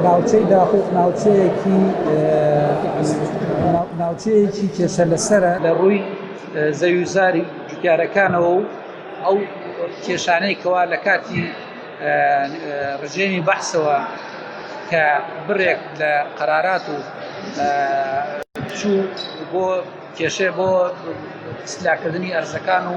ناوچەی داقوق ناوچەیەکی ناوچەیەکی کێشە لەسەرە لە ڕووی زەویوزاری جوتیارەکانەوە و ئەو کێشانەی کەوا لە کاتی ڕژێمی بەحسەوە کە بڕێک لە قەرارات و چوو بۆ کێشێ بۆ سلاکردنی ئەرزەکان و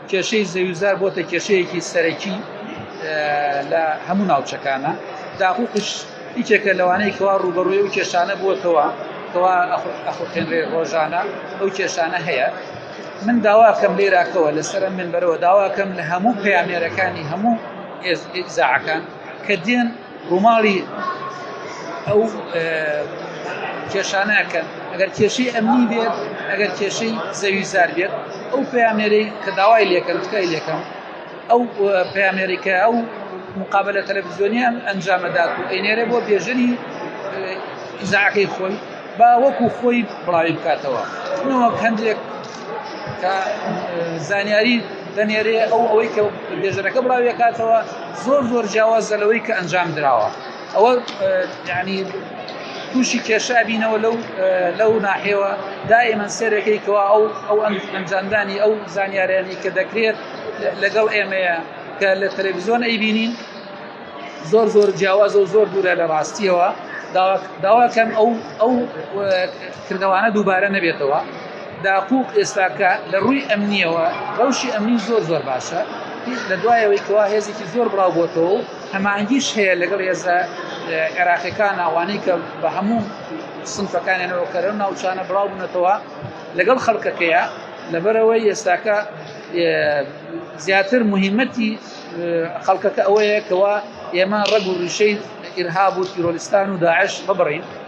کێشەی زەویوزار بۆتە کێشەیەکی سەرەکی لە هەموو ناوچەکانە داهوقش یکێکە لەوانەی کەوا ڕوبەڕوی و کێشانە بووەتەوە کەوا ئەخوتێنرێ ڕۆژانە ئەو کێشانە هەیە من داواکەم لێراکەوە لەسرە من بەرەوە داواکەم لە هەموو پەیامێرەکانی هەموو ئێزاعەکان کە دێن ڕووماڵی ئەو کێشانە کەن ئەگەر کێشەی ئەمنی بێت ئەگەر کێشەی زەوی زار بێت ئەو پامێرەی کە داوای لێکەن تکای لێکەم ئەو پامێریکە ئەو مقابلە تەلەڤزیۆنیان ئەنجامەدات و ئەینێرە بۆ بێژەری ئیزاعەکەی خۆی با وەکو خۆی بڵاوی بکاتەوە نەوەک هەندێک کە زانیاری دەنێرێ ئەو ئەوەی کە بێژەرەکە بڵاویەکاتەوە زۆر زۆر جیاوازە لەوەی کە ئەنجام درراوە ئەوە ینی تووشی کێشا بینەوە لەو لەو ناحێوە دائمە سێرەکەی کەوا ئەو ئەو ئەنجامدانی ئەو زانیارانی کە دەکرێت لەگەڵ ئێمەیە کە لە تەلەڤزیۆن ئەیبینین زۆر زۆر جیاواز و زۆر دوورە لە ڕاستیەوە داواکەم ئەو ئەو کردەوانە دووبارە نەبێتەوە. داقووق ئێستا کە لە ڕووی ئەمنیەوە ڕەوشی ئەمنی زۆر زۆر باشە لە دوایەوەی کەوا هێزێکی زۆر بڵاو بۆتەوە و هەمانگیش هەیە لەگەڵ هێزە عێراقیەکان ئەوانەی کە بە هەموو سنفەکانیانەوە کەرە ناوچانە بڵاو بنەتەوە لەگەڵ خەڵکەکەیە لەبەرەوەی ئێستاکە زیاتر مهمەتی خەڵکەکە ئەوەیە کەوا ئێمە ڕەگ و ڕیشەی ئرهاب و تیرۆریستان و داعش ببڕین